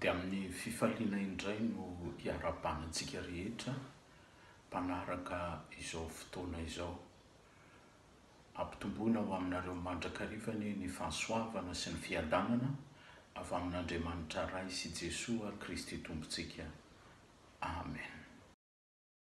Dia amin'ny fifaliana indray no iarahabana antsika rehetra mpanaraka izao fotoana izao. Ampitomboina ho aminareo mandrakariva anie ny fahasoavana sy ny fiadanana avy amin'Andriamanitra Ray sy Jesoa Kristy Tompontsika. Amen.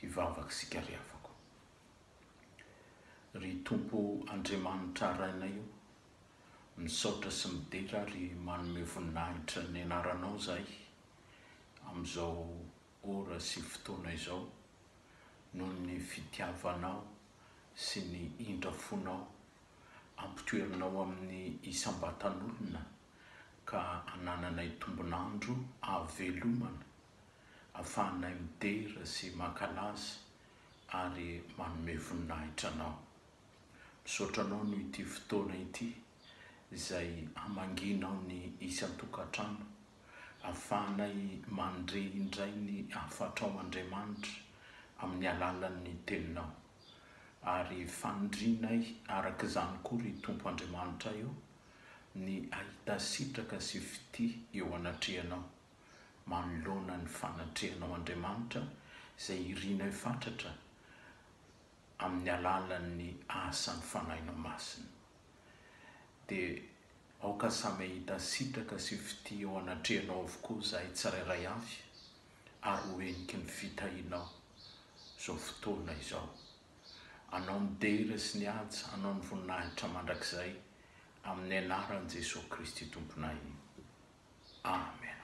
Hivavaka isika ry havako. Ry Tompo Andriamanitra Rainay o, misaotra sy midera ary manome voninahitra ny Anaranao izahay amin'izao ora sy fotoana izao noho ny fitiavanao sy ny indrafonao ampitoerinao amin'ny isam-batan'olona ka anananay tombon'andro ahavelomana, ahafahanay midera sy mankalaza ary manome voninahitra Anao. Misaotra Anao noho ity fotoana ity izay hamangianao ny isan-tokantrano, ahafahanay mandre indray ny hafatrao Andriamanitra amin'ny alalan'ny Teninao. Ary fanirianay araka izany koa ry Tompo Andriamanitra ô, Ny hahita sitraka sy fitia eo anatrehanao, manoloana ny fanatrehanao Andriamanitra izay irinay fatratra amin'ny alalan'ny asan'ny Fanahinao Masina. Dia aoka samy hahita sitraka sy fitia eo anatrehanao avokoa izahay tsirairay avy ary ho heniky ny fitahianao izao fotoana izao. Anao ny dera sy ny haja, Anao ny voninahitra mandrakizay, amin'ny anaran'i Jesoa Kristy Tomponay. Amen.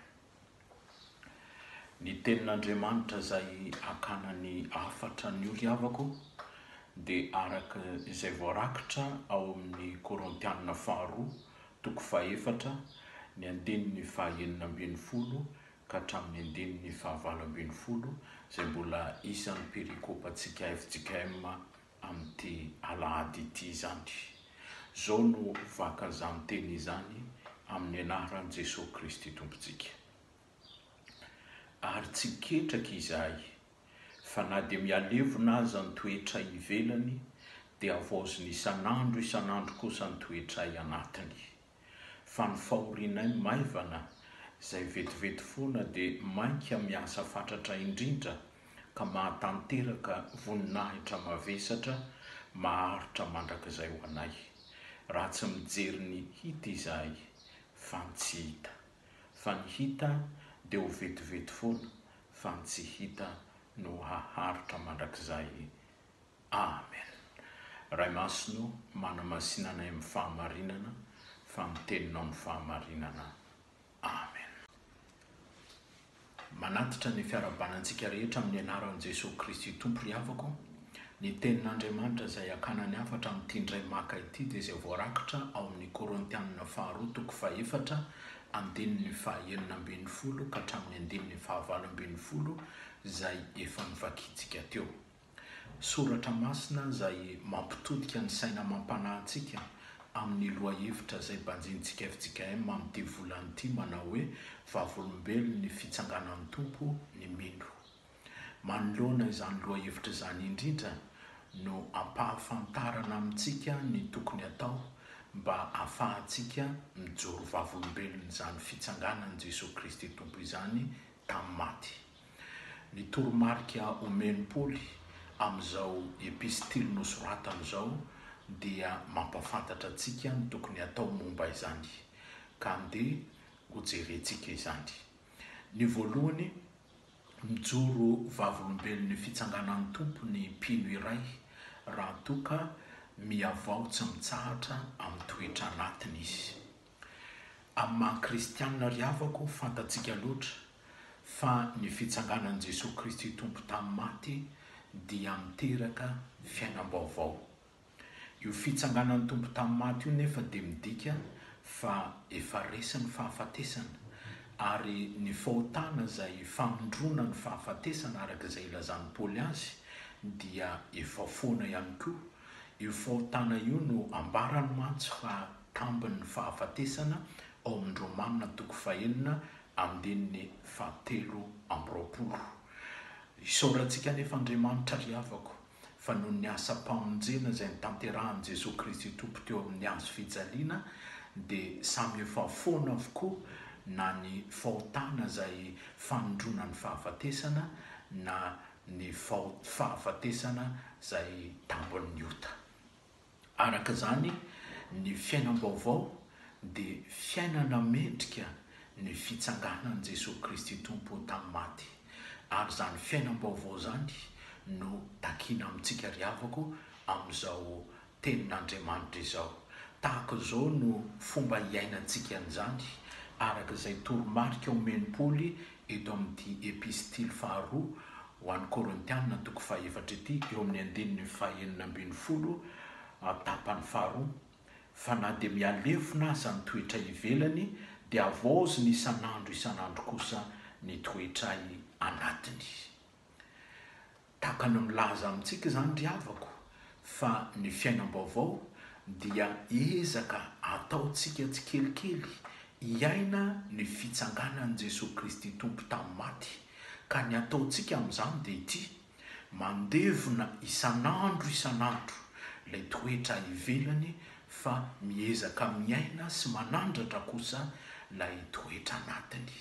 Ny tenin'Andriamanitra izay akana ny hafatra ny ry havako dia araka izay voarakitra ao amin'ny Korintianina faharoa, toko fahefatra, ny andininy fahaenina ambin'ny folo ka hatramin'ny andininy fahavalo ambin'ny folo izay mbola isan'ny perikopantsika fjkm amin'ity alahady ity izany. Izao no vakan'izany teny izany amin'ny anaran'i Jesoa Kristy Tompontsika. Ary tsy ketraka izahay fa na dia mihalevona aza ny toetray ivelany dia havaozina isan'andro isan'andro kosa ny toetray anatiny. Fa ny fahorianay maivana, izay vetivety foana dia mainka miasa fatratra indrindra ka mahatanteraka voninahitra mavesatra maharitra mandrakizay ho anay, raha tsy mijery ny hita izahay, fa ny tsy hita. Fa ny hita dia ho vetivety foana, fa ny tsy hita no haharitra mandrakizay. Amen Ray Masina ô manamasina anay amin'ny fahamarinana fa ny teninao no fahamarinana Amen. Manatitra ny fiarahabana antsika rehetra amin'ny anaran'i Jesoa Kristy Tompo ry havako, ny tenin'Andriamanitra izay hakana ny hafatra amin'ity indray maka ity dia izay voarakitra ao amin'ny Korontianina faharoa toko fahefatra andininy fahaenina ambin'ny folo ka hatramin'ny andininy fahavalo ambin'ny folo izay efa novakintsika teo. Soratra masina izay mampitodika ny saina amam-panahy antsika amin'ny lohahevitra izay banjinintsika fjkm amin'ity volana ity manao hoe Vavolombelon'ny Fitsanganan'ny Tompo ny mino. Manoloana izany lohahevitra izany indrindra no ampahafantarana amintsika ny tokony atao mba afahantsika mijoro vavolombelon'izany Fitsanganan'i Jesoa Kristy Tompo izany tamin'ny maty. Ny toromarika omen'i Paoly amin'izao epistily nosoratany izao dia mampahafantatra antsika ny tokony hatao momba izany, ka andeha hojerentsika izany. Ny voalohany, mijoro vavolombelon'ny Fitsanganan'ny Tompo ny mpino iray raha toa ka mihavao tsy mitsahatra amin'ny toetra anatiny izy. Amin'ny maha kristianina ry havako, fantatsika loatra fa ny fitsanganan'i Jesoa Kristy Tompo tamin'ny maty dia miteraka fiainam-baovao. Io fitsanganan'ny Tompo tamin'ny maty io nefa dia midika fa efa resy ny fahafatesana, ary ny fahotana izay famindroana ny fahafatesana araka izay ilazan'i Paoly azy dia efa foana ihany koa. Io fahotana io no ambarany mantsy fa tambin'ny fahafatesana ao amin'ny Romana toko fahenina andininy fahatelo amby roapolo. Isaorantsika anefa Andriamanitra ry havako fa noho ny asam-pamonjena izay notanterahin'i Jesoa Kristy Tompo teo amin'ny hazo fijaliana dia samy efa foana avokoa na ny fahotana izay fanondroana ny fahafatesana na ny fahafatesana izay tambin'ny ota. Araka izany, ny fiainam-baovao dia fiainana mendrika ny fitsanganan'i Jesoa Kristy Tompo tamin'ny maty, ary izany fiainam-baovao izany no takiana amintsika ry havako amin'izao Tenin'Andriamanitra izao. Tahaka izao no fomba hiainantsika an'izany, araka izay toromarika omen'i Paoly eto amin'ity Epistily faharoa ho an'ny Korintiana toko fahefatra ity, eo amin'ny andininy fahenina ambin'ny folo, tapany faharoa, Fa na dia mihalefona aza ny toetray ivelany, dia havaozina isan'andro isan'andro kosa ny toetray anatiny. Tahaka ny milaza amintsika izany ry havako fa ny fiainam-baovao dia ezaka ataontsika tsikelikely hiaina ny fitsanganan'i Jesoa Kristy Tompo tamin'ny maty, ka ny ataontsika amin'izany dia ity, mandevona isan'andro isan'andro ilay toetra ivelany fa miezaka miaina sy manandratra kosa ilay toetra anatiny.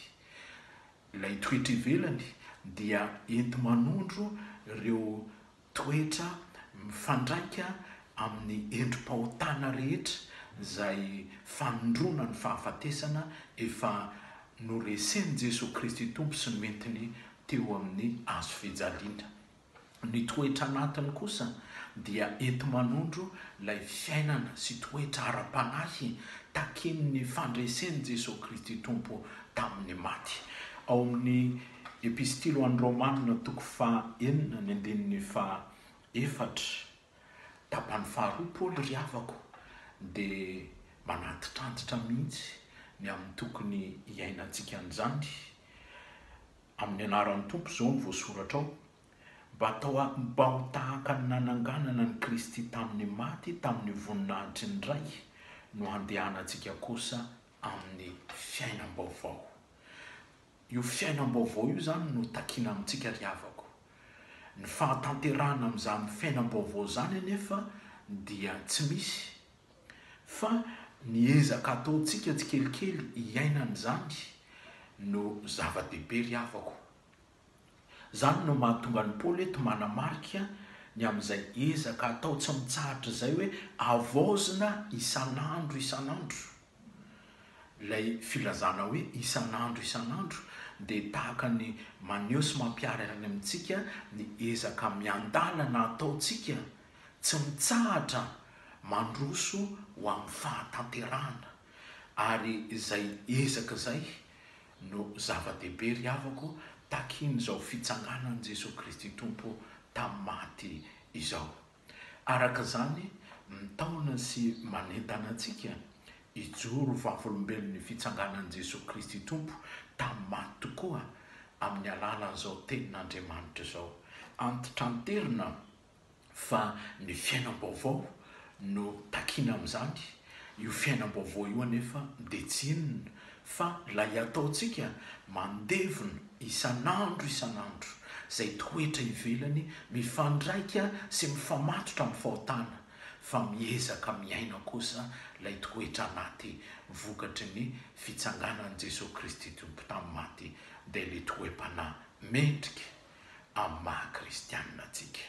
Ilay toetra ivelany dia enti-manondro ireo toetra mifandraika amin'ny endri-pahotana rehetra izay fanondroana ny fahafatesana efa noresen'i Jesoa Kristy Tompo sy nentiny teo amin'ny hazo fijaliana. Ny toetra anatiny kosa dia enti-manondro ilay fiainana sy toetra ara-panahy takian'ny fandresen'i Jesoa Kristy Tompo tamin'ny maty. Ao amin'ny Epistily ho an'ny Romana toko faha enina ny andininy faha efatra, tapany faharoa, Paoly ry havako dia manantitrantitra mihitsy ny amin'ny tokony hiainantsika an'izany. Amin'ny anaran'ny Tompo izao no voasoratra ao, mba atao ahy mba ho tahaka ny nananganana an'i Kristy tamin'ny maty tamin'ny voninahitry ny Ray no handehanantsika kosa amin'ny fiainam-baovao. Io fiainam-baovao io izany no takiana amintsika ry havako. Ny fahatanterahana amin'izany fiainam-baovao izany anefa dia tsy misy Fa ny ezaka ataontsika tsikelikely hiaina an'izany no zava-dehibe ry havako. Izany no mahatonga an'i Paoly eto manamarika ny amin'izay ezaka atao tsy mitsahatra izay hoe havaozina isan'andro isan'andro. Ilay filazana hoe isan'andro isan'andro dia tahaka ny maneho sy mampiharihary amintsika ny ezaka miandalana ataontsika tsy mitsahatra mandroso ho amin'ny fahatanterahana, ary izay ezaka izay no zava-dehibe ry havako takian'izao fitsanganan'i Jesoa Kristy Tompo tamin'ny maty izao. Araka izany, mitaona sy manentana antsika hijoro vavolombelon'ny fitsanganan'i Jesoa Kristy Tompo tamin'ny maty tokoa amin'ny alalan'izao Tenin'Andriamanitra izao. Antitranterina fa ny fiainam-baovao no takiana amin'izany, io fiainam-baovao io anefa dia tsy inona fa ilay ataontsika mandevona isan'andro isan'andro izay toetra ivelany mifandraika sy mifamatotra amin'ny fahotana fa miezaka miaina kosa ilay toetra anaty vokatry ny fitsanganan'i Jesoa Kristy Tompo tamin'ny maty dia ilay toe-panahy mendrika amin'ny maha kristianina antsika.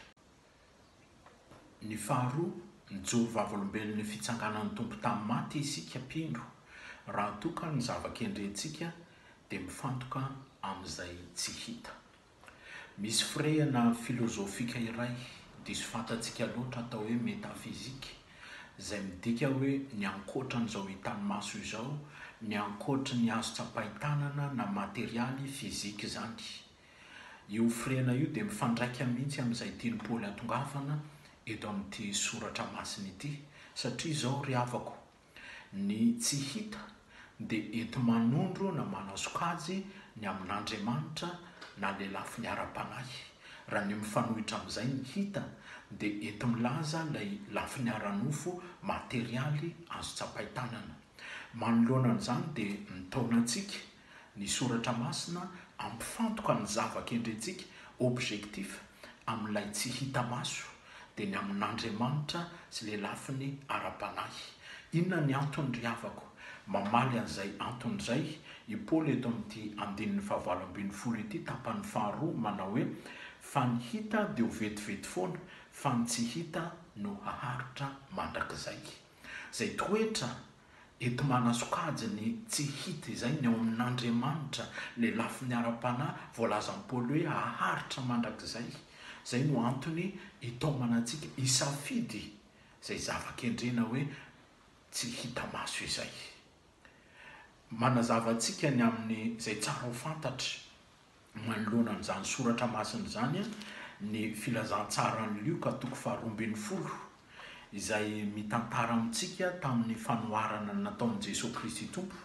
Ny faharoa, mijoro vavolombelon'ny fitsanganan'ny Tompo tamin'ny maty isika mpino, raha toa ka ny zava-kendrentsika dia mifantoka amin'izay tsy hita. Misy firehana filozofika iray diso fantatsika loatra atao hoe metafizika, izay midika hoe ny ankoatran'izao hitan'ny maso izao, ny ankoatry ny azo tsapain-tanana na materialy, fizika izany. Io hofrena io dia mifandraika mihitsy amin'izay tian'i Paoly hatongavana eto amin'ity soratra masina ity, satria izao ry havako, ny tsy hita dia enti-manondro na manasokajy ny amin'Andriamanitra na lelafiny ara-panahy, raha ny mifanohitra amin'izay ny hita dia enti-milaza ilay lafiny ara-nofo materialy azo tsapain-tanana. Manoloana an'izany dia mitaona antsika, Ny Soratra Masina ampifantoka ny zava-kendrentsika, objectif, amin'ilay tsy hita maso, dia ny amin'Andriamanitra sy ilay lafiny ara-panahy. Inona ny antony ry havako? Mamaly an'izay antony izay i Paoly eto amin'ity andininy fahavalo ambin'ny folo ity tapany faharoa manao hoe, Fa ny hita dia ho vetivety foana, fa ny tsy hita no haharitra mandrakizay. Izay toetra Enti-manasokajy ny tsy hita izay ny ao amin'Andriamanitra, ny lafiny ara-panahy voalazan'i Paoly hoe haharitra mandrakizay. Izay no antony itaomana antsika hisafidy izay zava-kendrena hoe tsy hita maso izay. Manazava antsika ny amin'izay tsara ho fantatra manoloana an'izany soratra masina izany ny filazantsaran'i Lioka toko faharoa ambin'ny folo, izay mitantara amintsika tamin'ny fanoharana nataon'i Jesoa Kristy Tompo.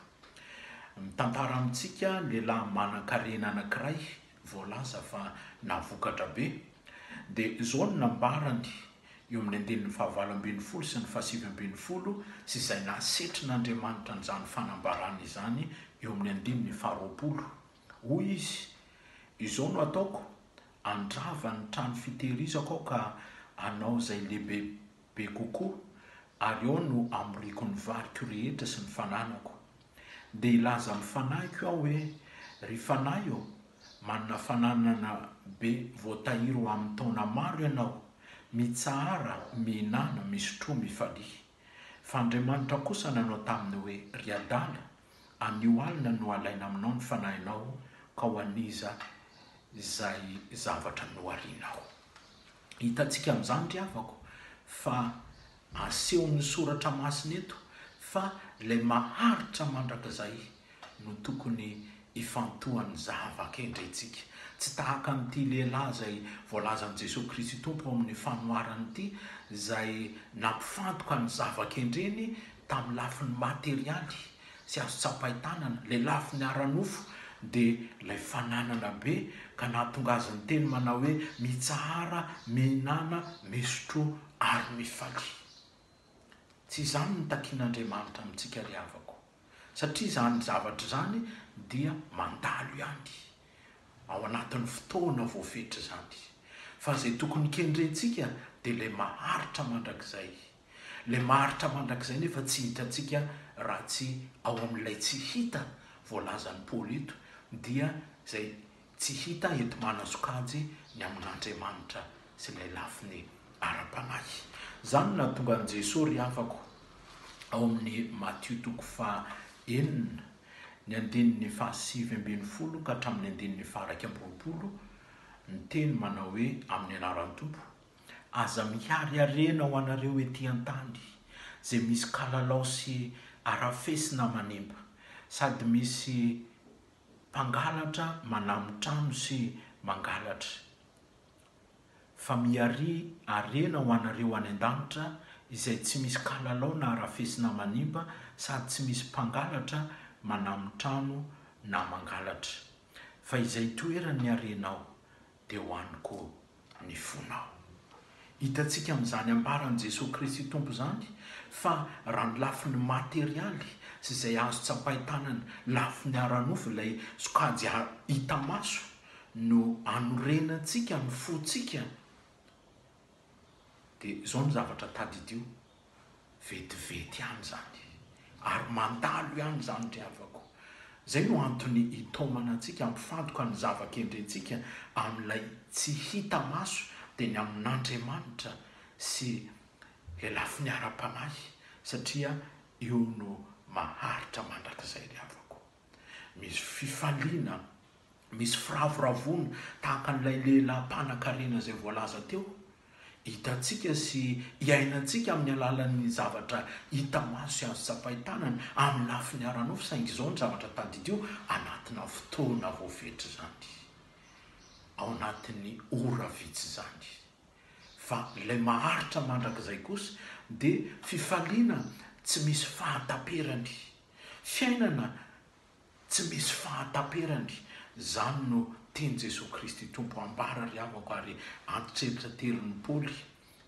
Mitantara amintsika lehilahy manan-karena anankiray voalaza fa nahavokatra be. Dia izao no nambarany eo amin'ny andininy fahavalo ambin'ny folo sy ny fahasivy ambin'ny folo sy izay nahasetrin'Andriamanitra an'izany fanambarana izany eo amin'ny andininy faharoapolo. Hoy izy, Izao no ataoko, Andrava ny trano fitehirizako aho ka hanao izay lehibe be kokoa, ary ao no hamoriako ny variko rehetra sy ny fananako. Dia hilaza amin'ny fanahiko aho hoe, Ry fanahy ô, manana fananana be voatahiry ho amin'ny taona maro ianao, mitsahara, mihinana, misotroa, mifalia. Fa Andriamanitra kosa nanao taminy hoe, Ry adala, Anio alina no alaina aminao ny fanahinao ka ho an'iza izay zavatra noharianao. Hitantsika amin'izany ry havako fa asehon'ny soratra masina eto fa ilay maharitra mandrakizay no tokony hifantohan'ny zava-kendrentsika. Tsy tahaka an'ity lehilahy izay voalazan'i Jesoa Kristy Tompo ao amin'ny fanoharany ity izay nampifantoka ny zava-kendreny Tamin'ny lafiny materialy sy azo tsapain-tanana, ilay lafiny ara-nofo dia ilay fananana be ka nahatonga azy niteny manao hoe, Mitsahara, mihinana, misotroa ary mifalia. Tsy izany no takian'Andriamanitra amintsika ry havako, satria izany zavatra izany dia mandalo ihany ao anatin'ny fotoana voafetra izany, fa izay tokony kendrentsika dia ilay maharitra mandrakizay. Ilay maharitra mandrakizay nefa tsy hitantsika raha tsy ao amin'ilay tsy hita voalazan'i Paoly eto, dia izay tsy hita enti-manasokajy ny amin'Andriamanitra sy ilay lafiny ara-panahy. Izany no nahatonga an'i Jesoa ry havako ao amin'ny Matio toko faha enina, ny andininy faha sivy ambin'ny folo ka hatramin'ny andininy faha iraika amby roapolo, niteny manao hoe, Amin'ny anaran'ny Tompo, Aza mihariharena ho anareo ety an-tany izay misy kalalao sy arafesina manimba, sady misy mpangalatra manamo trano sy mangalatra, fa miharia harena ho anareo any an-danitra izay tsy misy kalalao na arafesina manimba sady tsy misy mpangalatra manamo trano na mangalatra, fa izay toeran'ny harenao dia ho any koa ny fonao. Hitantsika amin'izany ambaran'i Jesoa Kristy Tompo izany fa raha ny lafiny materialy sy izay azo tsapain-tanana, lafiny ara-nofo ilay sokajy hita maso no anorenantsika ny fontsika dia izao ny zavatra tadidio, vetivety ihany izany ary mandalo ihany izany ry havako. Izay no antony hitaomana antsika hampifantoka ny zava-kendrentsika amin'ilay tsy hita maso dia ny amin'Andriamanitra sy Ilay lafiny ara-panahy satria io no maharitra mandrakizay ry havako. Misy fifaliana, misy firavoravoana tahaka an'ilay lehilahy mpanankarena izay voalaza teo. Hitantsika sy iainantsika amin'ny alalan'ny zavatra hita maso sy azo tsapain-tanana amin'ny lafiny ara-nofo, saingy izao ny zavatra tadidio, anatina fotoana voafetra izany, ao anatin'ny ora vitsy izany. Fa ilay maharitra mandrakizay kosa dia fifaliana tsy misy fahataperany. Fiainana tsy misy fahataperany, izany no tian'i Jesoa Kristy Tompo hambara ry havako ary antitreritra terin'i Paoly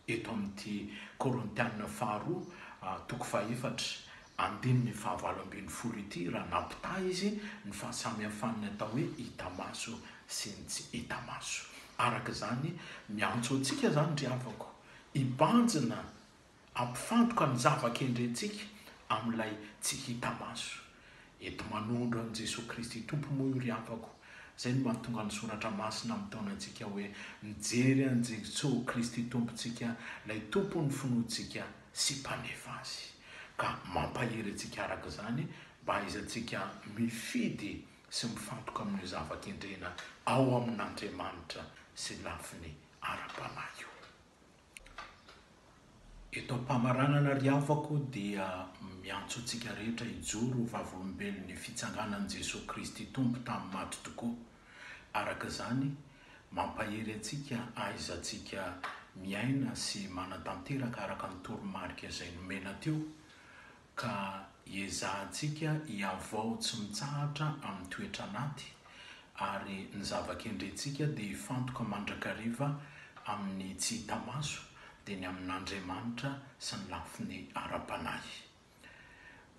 eto amin'ity Korintiana faharoa toko fahefatra andininy fahavalo ambin'ny folo ity raha nampitaha izy ny fahasamihafan'ny atao hoe hita maso sy ny tsy hita maso. Araka izany, miantso antsika izany ry havako hibanjina Ampifantoka ny zava-kendrentsika amin'ilay tsy hita maso. Eto manondro an'i Jesoa Kristy Tompo moa io ry havako. Izay no mahatonga ny Soratra Masina mitaona antsika hoe, mijery an'i Jesoa Kristy Tompontsika, ilay Tompon'ny finoantsika sy Mpanefa azy. Ka mampahery antsika araka izany mba hahaizantsika mifidy sy mifantoka amin'io zava-kendrena ao amin'Andriamanitra sy lafiny ara-panahy io. Eto am-pamaranana ry havako dia miantso antsika rehetra hijoro ho vavolombelon'ny fitsanganan'i Jesoa Kristy Tompo tamin'ny maty tokoa. Araka izany, mampahery antsika ahaizantsika miaina sy manatanteraka araka ny toromarika izay nomena teo, ka hiezahantsika hihavao tsy mitsahatra amin'ny toetra anaty, ary ny zava-kendrentsika dia hifantoka mandrakariva amin'ny tsy hita maso, dia ny amin'Andriamanitra sy ny lafiny ara-panahy.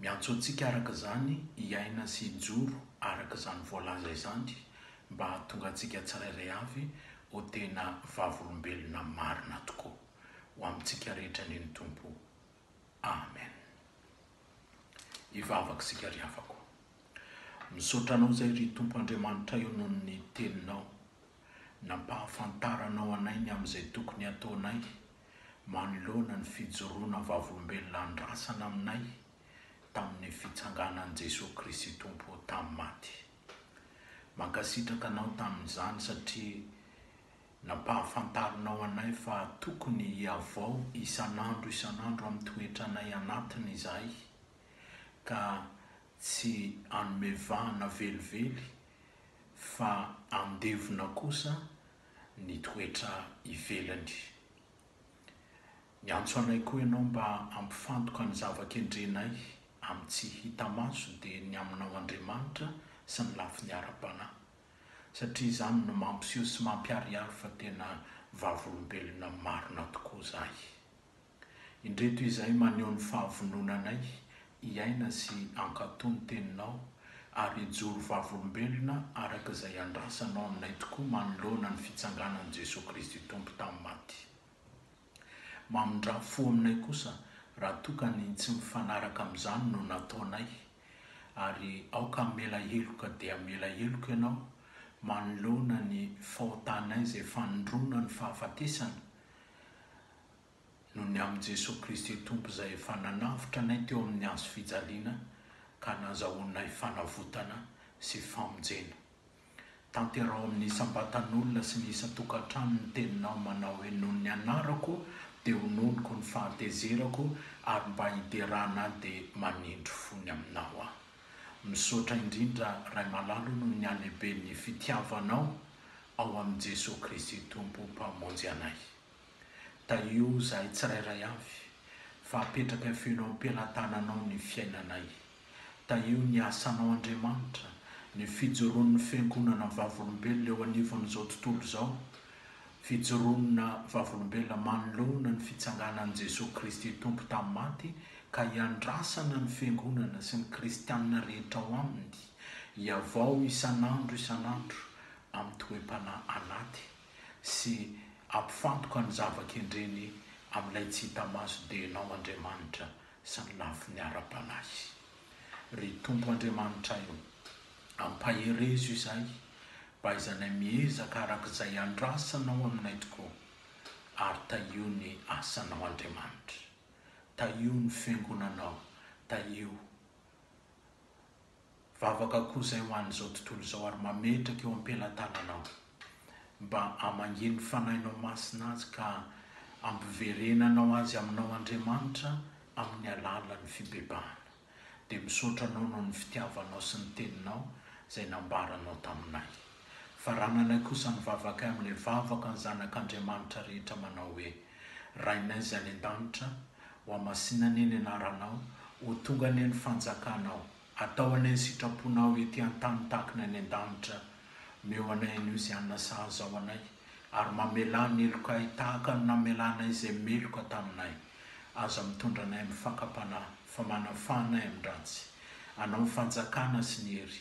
Miantso antsika araka izany hiaina sy hijoro araka izany voalaza izany, mba hahatonga antsika tsirairay avy ho tena vavolombelona marina tokoa. Ho amintsika rehetra anie ny Tompo. Amen. Hivavaka isika ry havako. Misaotra anao izay ry Tompo Andriamanitray o noho ny teninao nampahafantaranao anay ny amin'izay tokony hataonay manoloana ny fijoroana vavolombelona andrasana aminay tamin'ny fitsanganan'i Jesoa Kristy Tompo tamin'ny maty. Mankasitraka anao tamin'izany satria Nampahafantarinao anay fa tokony hihavao isan'andro isan'andro amin'ny toetranay anatiny izahay, ka tsy hanome vahana velively, fa handevona kosa ny toetra ivelany. Niantso anay koa Ianao mba hampifantoka ny zava-kendrenay amin'ny tsy hita maso, dia ny Aminao Andriamanitra sy ny lafiny ara-panahy. satria izany no mampiseho sy mampiharihary fa tena vavolombelona marina tokoa izahay. Indreto izay maneho ny fahavononanay hiaina sy hankatò ny Teninao ary hijoro vavolombelona araka izay andrasanao aminay tokoa manoloana ny fitsanganan'i Jesoa Kristy Tompo tamin'ny maty. Mamindrà fo aminay kosa raha toa ka ny tsy mifanaraka amin'izany no nataonay, ary aoka hamela heloka dia hamela heloka ianao manoloana ny fahotanay izay fanindroana ny fahafatesana, noho ny amin'i Jesoa Kristy Tompo izay efa nanavotra anay teo amin'ny hazo fijaliana ka nazahoanay fanavotana sy famonjena. Tanteraho amin'ny isam-batan'olona sy ny isan-tokantrano ny teninao manao hoe noho ny anarako dia hononiko ny fahatezerako ary mba hiderana ahy dia manindry fony aminao aho. Misaotra indrindra Ray Malalo noho ny halehiben'ny fitiavanao ao amin'i Jesoa Kristy Tompo Mpamonjy anay. Tahio izahay tsirairay avy, fa apetraka feno am-pelatananao ny fiainanay. Tahio ny asanao Andriamanitra, ny fijoroan'ny Fiangonana vavolombelona eo anivon'izao tontolo izao, fijoroana vavolombelona manoloana ny fitsanganan'i Jesoa Kristy Tompo tamin'ny maty ka hiandrasana ny Fiangonana sy ny Kristianina rehetra ao Aminy hihavao isan'andro isan'andro amin'ny toe-panahy anaty sy hampifantoka ny zava-kendreny amin'ilay tsy hita maso dia Ianao Andriamanitra samy lafiny ara-panahy. Ry Tompo Andriamanitray o, ampaherezo izahay mba haizanay miezaka araka izay andrasanao aminay tokoa ary tahio ny asanao Andriamanitra, tahio ny fiangonanao, tahio. Vavaka koa izay ho an'izao tontolo izao ary mametraka eo am-pelatananao mba hamangiany ny Fanahinao Masina azy ka hampiverenanao azy aminao Andriamanitra amin'ny alalan'ny fibebahana. Dia misaotra Anao noho ny fitiavanao sy ny Teninao izay nambaranao taminay. Fa raha manaiky kosa mivavaka amin'ilay vavaka ny zanak'Andriamanitra rehetra manao hoe, Rainay izay any an-danitra, hohamasinina anie ny anaranao, ho tonga anie ny fanjakanao, atao anie ny sitraponao ety an-tany tahaka ny any an-danitra, omeo anay anio izay hanina saha izao anay, ary mamelà ny helokay tahaka ny namelanay izay meloka taminay, aza mitondra anay amin'ny fakam-panahy, fa manafà anay amin-dratsy. Anao ny fanjakana sy ny hery,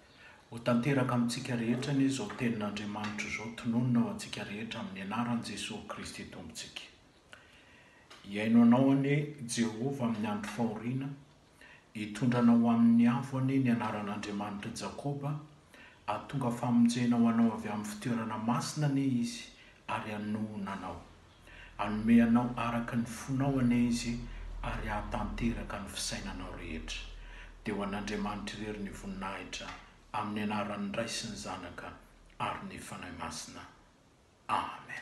Ho tanteraka amintsika rehetra anie izao tenin'Andriamanitra izao tononina ho antsika rehetra amin'ny anaran'i Jesoa Kristy Tompontsika. Hihaino anao anie Jehovah amin'ny andro fahoriana, hitondra anao amin'ny avo anie ny anaran'Andriamanitr'i Jakoba, hahatonga famonjena ho anao avy amin'ny fitoerana masina anie Izy ary hanohona anao. Hanome anao araka ny fonao anie Izy ary hahatanteraka ny fisainanao rehetra. Dia ho an'Andriamanitra irery ny voninahitra amin'ny anaran'ny Ray sy ny Zanaka ary ny Fanahy Masina. Amen.